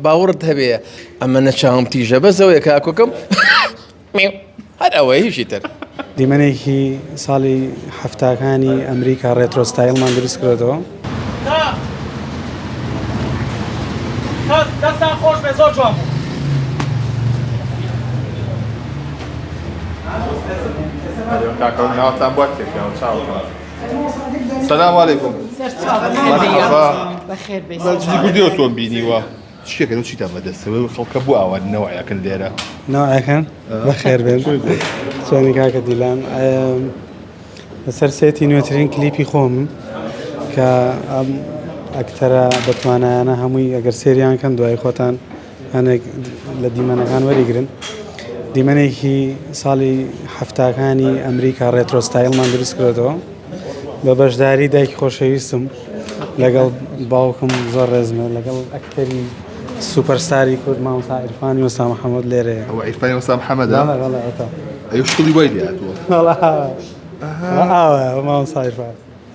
باوەڕت هەبێ ئەمەنە چاوم تیژە بەس ئەوەیە کاکۆکەم میو هەر ئەوەیە هیچی تر. دیمەنێکی ساڵی حەفتاکانی ئەمریکا ڕێترۆ ستایڵمان دروست کردۆتەوە. سلام علیکم مرحبا بەخێر بێت مەجلی گوردی ئۆتۆم بینیوە شتێکەکە چی تا بەدەستەوەی خەڵکە بۆ ئاوان نەوەیەکن لێرە ناوەکەن بەخێر بێن چۆنی کاکە دیلان ئەم، لەسەر سێتی نوێترین کلیپی خۆم کە ئەم ئەکتەرە بەتوانایانە هەمووی ئەگەر سێریان کەن دوای خۆتان هەنێک لە دیمەنەکان وەریگرن دیمەنێکی ساڵی حەفتاکانی ئەمریکا ڕێترۆستایلمان دروست کردەوە بە بەشداری دایکی خۆشەویستم لەگەڵ باوکم زۆر ڕێزمە لەگەڵ ئەکتەری سوپەرستاری کورد مامۆستا عیرفانی وەستا محەممەد لێرەیە ئەو عیرفانی وەستا محەممەدا بەڵێ بەڵێ ئەوتا ئەو شکڵی وای لێ هاتووە وەڵا ئاوە ئاوە مامۆستا عیرفان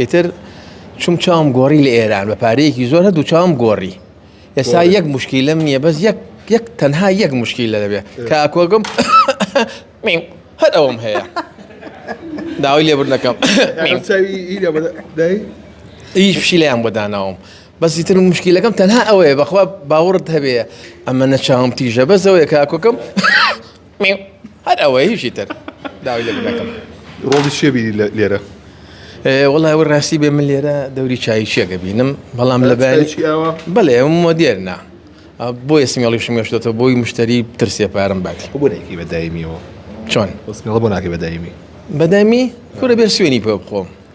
ئیتر چوم چاوم گۆڕی لە ئێران بە پارەیەکی زۆر هەردوو چاوم گۆڕی ئێستا گۆڕی. یەک مشکیلم نییە بەس یەک یەک تەنها یەک مشکیلە دەبێ کە ئەکۆگم میم، هەر ئەوەم هەیە داوای لێبوردنەکەم میم. چاوی ئیرە بە دای ئی فشیلیان بۆ داناوم بەس ئیتر مشکیلەکەم تەنها ئەوەیە بەخوا باوەڕت هەبێ ئەمەنە چاوم تیژە بەس ئەوەیە کە ئەکۆگم هەر ئەوە هیچی تر داوی لە بنەکەم ڕۆڵی چێ بینی لە لێرە وڵای وە ڕاستی بێ من لێرە دەوری چایچیەکە بینم بەڵام لە بەیەوە بەڵێ مۆدێرنا بۆ ئێسمیڵی شمێشتێتەوە بۆی مشتری ترسێ پارم بات بۆێکی بەدایمیەوە چۆن بۆ ناکە بەدایمی بەدەمی کورە بێ سوێنی پێ بخۆم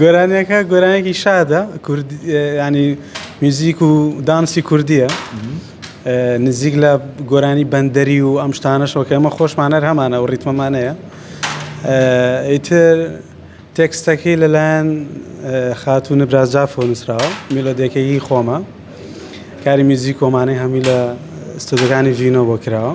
گۆرانیەکە گۆرانێکی شادە ینی میوزیک و دانسی کوردیە نزیک لە گۆرانی بەندەری و ئەم شتانەشەوەکە ئەمە خۆشمانەر هەمانە و ڕیتمەمانەیە ئیتر تێکستەکەی لەلایەن خاتو نبرازجاف و نووسراوە میلۆدەکەی خۆمە کاری میوزیک کۆمانەی هەمی لە ستۆدەکانی ڤینۆ بۆ کراوە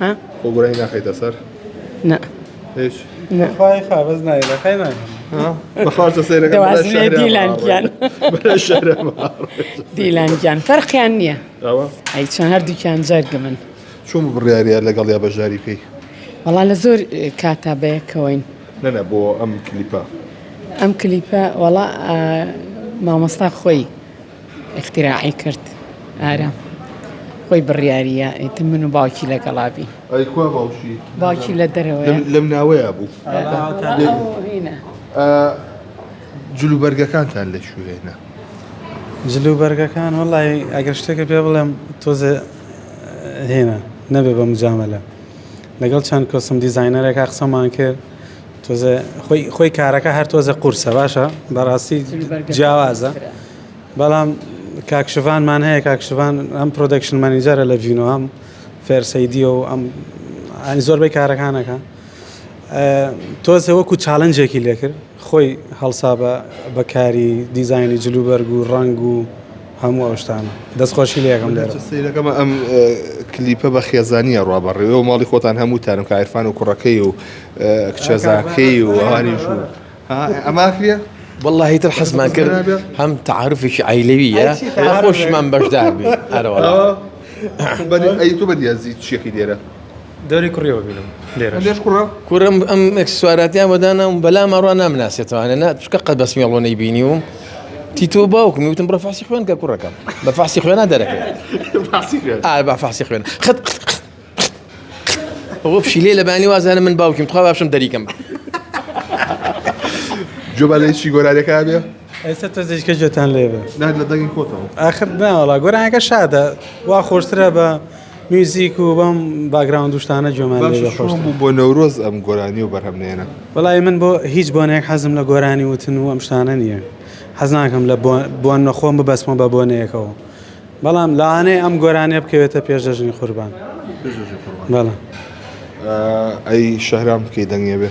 ها؟ خۆ گۆرانی ناخەیتە سەر؟ نا هیچ؟ نا خۆی خا بەس نای دەخەی نای بەخوارتە سەیرەکە دیلانگیان دیلانگیان فەرقیان نییە ئەی چۆن هەردووکیان جەرگە من چۆن بڕیارە لەگەڵ یا بەژاری پێی وەڵا لە زۆر کاتا بەیەکەوەین نەنە بۆ ئەم کلیپە ئەم کلیپە وەڵا مامۆستا خۆی اختراعی کرد ئارام خۆی بڕیاریە ئیتر من و باوکی لەگەڵا بین ئەی کوا باوکی باوکی لە دەرەوەیە. لەم- لەم ناوەیە بوو هینە. ئا، جلوبەرگەکانتان لە کوێ هێنا جلوبەرگەکان وەڵای ئەگەر شتێکە پێ بڵێم تۆزێ هێنا نەبێ بە مجامەلە لەگەڵ چەند کۆسم دیزاینەرێکا قسەمان کرد تۆزێ خۆی خۆی کارەکە هەر تۆزە قورسە باشە بەڕاستی جیاوازە بەڵام کاکشڤانمان هەیە کاکشڤان ئەم پرۆدەکشن مەنیجەرە لە ڤینۆ هەم فێرسەیدیە و ئەم ئەنی زۆربەی کارەکانەکە تۆزێ وەکو چاالنجێکی لێکرد خۆی هەڵسا بە بەکاری دیزایانی جلوبەرگ و ڕنگ و هەموو ئەو شتانە دەست خۆشی لێ ئەکەم لێرە. سەیرەکەمە ئەم کلیپە بە خێزانی ئەڕوا بە ڕێوە ماڵی خۆتان هەمووتانم کە عیرفان و کوڕەکەی و کچەزاکەی و ئەوانیش و ئەما کرێ واللهی تر حەزمان کرد هەم تعاعرفێکی عیلەویە خۆشمان بەشدار بێ ئەرەوە ئەی تو بەدیازی چیەکەی دێرە دەوری کوڕیەوە بینم لێرەش کوڕە کورم ئەم ئەکسسواراتیان وەدانام بەلا ماڕوا نامناسێتوانە نا چکە قەت بەس مێڵۆ نەی بینی وم تیتۆ باوکم وتم بڕە فاسی خوێن کە کوڕەکەم بە فاسی خوێنا دەرەکە با فاسی خوێن خەت ئەوە پشی لێ لەبانی وازانە من باوکیم تخوا باشم دەریکەم جوبا لە چی گۆرارەکە بێ ئێستا تۆزێک کەجێتان لێ بێ نەک لە دەنگی خۆتەوە ئاخر ناوەڵا گۆرانەکە شادە وا خۆشترە بە میوزیک و بەم باگراوند دوشتانە جۆمان بوو بۆ نەورۆز ئەم گۆرانی و بەرهەم نێنە بەڵی من بۆ هیچ بۆنێک حەزم لە گۆرانی وتن و ئەم شتانە نییە حەزناکەم لە بۆن نەخۆم ببەسمە بە بۆنەیەکەوە بەڵام لاانەیە ئەم گۆرانێ بکەوێتە پێشدەژنی قوربان بەڵام ئەی شەهرام بکەی دەنگێ بێ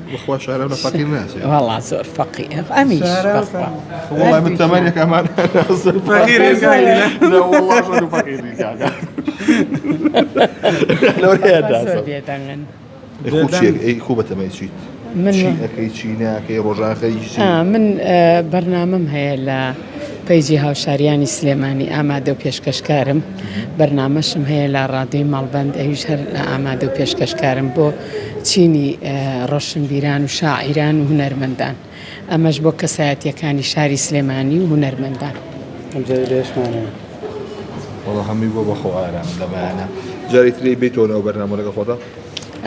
بەخوا شارەو لە فەقیر ناچێ وەڵا زۆر فەقی ئەمیش بەخوا وەڵا من تەمەنێک ئەمان فەقیرین خو بەتەمای چیت من ئەەکەی چی ناکەی ڕۆژاخەی من بەرنامەم هەیە لە پەیجی هاوشاریانی سلێمانی ئامادە و پێشکەشکارم بەرنمەشم هەیە لە ڕادوی ماڵبند ئەویش هەر ئامادە و پێشکەشکارم بۆ چینی ڕۆشنبیران و شاعیران و هونەرمەندان، ئەمەش بۆ کەسایەتییەکانی شاری سلێمانی و هونەرمەندان. ئەمجارەی لە یش مانەوێ. وەڵا هەمووی بووە بە خۆ ئارام لە بەیانە جارێ ترێی بێیتەوە ناو بەرنامەوە لەگەڵ خۆتە.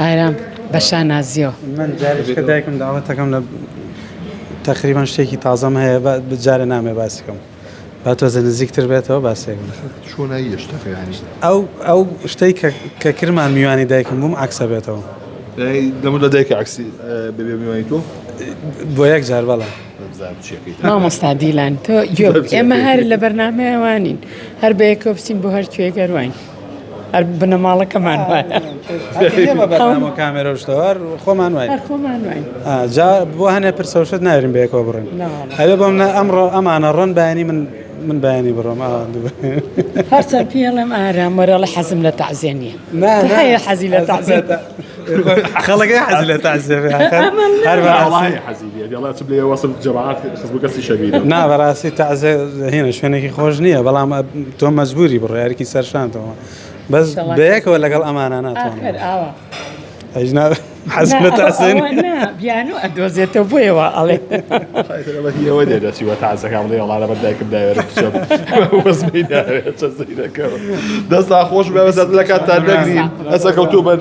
ئارام بە شانازیەوە. من جارێ کە دایکم داوەتەکەم لە تەقریبەن شتێکی تازەم هەیە بە جارێ نامێ باسی کەم. با تۆزێ نزیکتر بێتەوە باسێک چۆنایی یشتەکەیانی ئەو ئەو شتەی کە کرمان میوانی دایکم بووم عکسە بێتەوە دەمو لە دایکە عکسی ببێ میوانی تۆ بۆ یەک جار بەڵە مامۆستا دیلان تۆ ئێمە هەر لە بەرنمەیەوانین هەر بەیەکۆ بچین بۆ هەر کوێگەروین هەر بنەماڵەکەمان وایە کامێرە شتەوار خۆمان وای جا بۆ هەنێ پرسەوشت ناوێرم بەیەکەوە بڕن هەوێ بۆم نە ئەمڕۆ ئەمانە ڕۆن بەیانی من من بەیانی بڕۆم هەرچەند پێڵم ئارامەرەڵە حەزم لە تازێنیە هەیە حەزی لە تازێت خەڵەکەی حەز لە تازێ نا بەڕاستی تازێ هێنە شوێنێکی خۆش نییە بەڵام تۆ مەزبوری بڕارێکی سەرشانتەوە بەس بەیەکەوە لەگەڵ ئەمانە ناتوان ئەژنا حەز لە تازێن بیانو ئەدۆزێتەوە بۆیەوە ئەڵێ ئەوە دێ دەچیوە تازەکان بڵێ وڵا لەبەر دایکم داوێت دەستدا خۆش بێ بەزات لە کاتتان دەگرین هەر سەرکەوتوو بن.